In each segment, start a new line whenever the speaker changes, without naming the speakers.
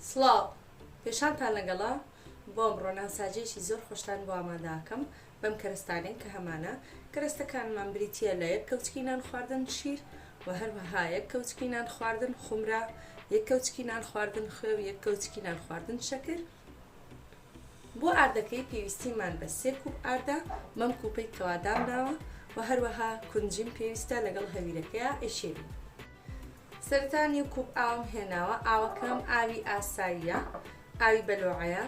سڵاو، پێشانتان لەگەڵە، بۆم ڕۆنان ساجێکی زۆر خۆشتان بۆ ئامادە ئەکەم بەم کەرەستانەی کە هەمانە، کەرەستەکانمان بریتییە لە یەک کەوچکی نان خواردن شیر و هەروەها یەک کەوچکی نان خواردن خومرا، یەک کەوچکی نان خواردن خوێ و یەک کەوچکی نان خواردن شەکر. بۆ ئاردەکەی پێویستیمان بە سێ کوپ ئاردە بەم کوپەی کەوا دامناوە و هەروەها کونجیم پێویستە لەگەڵ هەویرەکەیا ئەیشێلین. سەرەتا نیو کوپ ئاوم هێناوە ئاوەکەم ئاوی ئاساییە ئاوی بەلۆعەیە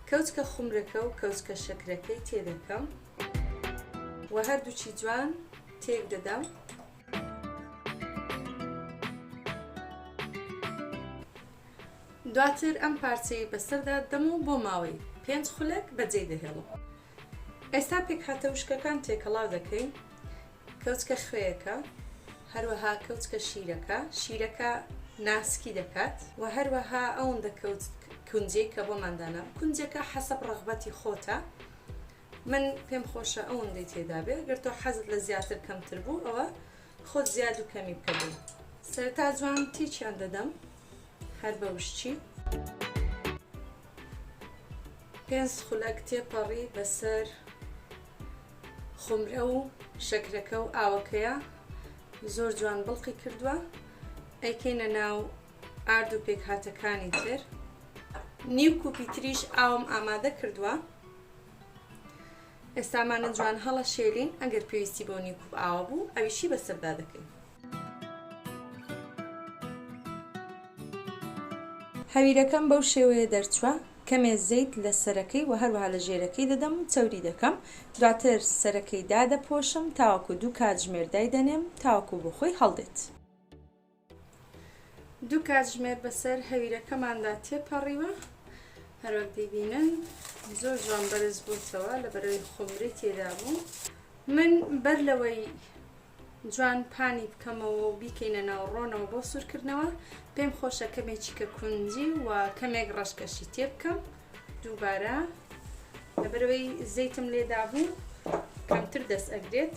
کەوچکە خومرەکە و کەوچکە شەکرەکەی تێدەکەم و هەردووچی جوان تێک دەدەم دواتر ئەم پارچەی بەسەردا دەم و بۆ ماوەی پێنج خولەک بەجێی دەهێڵم ئێستا پێکهاتە وشکەکان تێکەڵاو دەکەین، کەوچکە خوێیەکە، هەروەها کەوچکە شیرەکە، شیرەکە ناسکی دەکات، و هەروەها ئەوندە کەوچک کونجەی کە بۆمان داناوە، کونجەکە حەسەب ڕەغبەتی خۆتە، من پێم خۆشە ئەوندەی تێدابێ، گەر تۆ حەزت لە زیاتر کەمتر بوو ئەوە خۆت زیاد و کەمی بکە بۆ. سەرەتا جوان تێکیان دەدەم هەر بە وشکی. پێنج خولەک تێپەڕی بەسەر خۆمرە و شەکرەکە و ئاوەکەیا زۆر جوان بڵقی کردووە ئەیکەینە ناو ئارد و پێکهاتەکانی تر نیو کوپی تریش ئاوم ئامادە کردووە ئێستا مانە جوان هەڵەشێلین ئەگەر پێویستی بۆ نی کوپ ئاوە بوو ئەویشی بەسەردا دەکەین. هەویرەکەم بەو شێوەیە دەرچوە کەمێ زەیت لە سەرەکەی وە هەروەها لە ژێرەکەی دەدەم و چەوری دەکەم دواتر سەرەکەی دادەپۆشم تاوەکو دوو کاتژمێر دایدەنێم تاوەکو بۆخۆی هەڵدێت. دوو کاتژمێر بەسەر هەویرەکەماندا تێپەڕیوە هەروەک دیبینن زۆر جوان بەرز بووتەوە لە بەرەوەی خۆمری تێدا بوو من بەر لەوەی جوان پانی بکەمەوە و بیکەینە ناو ڕۆنەوە بۆ سوورکردنەوە پێم خۆشە کەمێکی کە کونجی و کەمێک ڕەشکەشی تێ بکەم دووبارە لەبەرەوەی زەیتم لێدا بوو کەمتر دەست ئەگرێت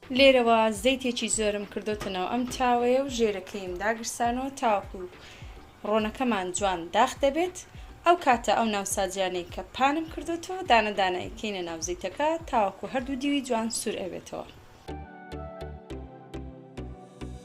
لێرەوە زەیتێکی زۆرم کردۆتە ناو ئەم تاوەیە و ژێرەکەیم داگرسانەوە تاوەکو ڕۆنەکەمان جوان داخ دەبێت ئەو کاتە ئەو ناوسازیانەی کە پانم کردۆتەوە دانە دانە ئەیکەینە ناو زەیتەکە تاوەکو هەردوو دیوی جوان سور ئەبێتەوە.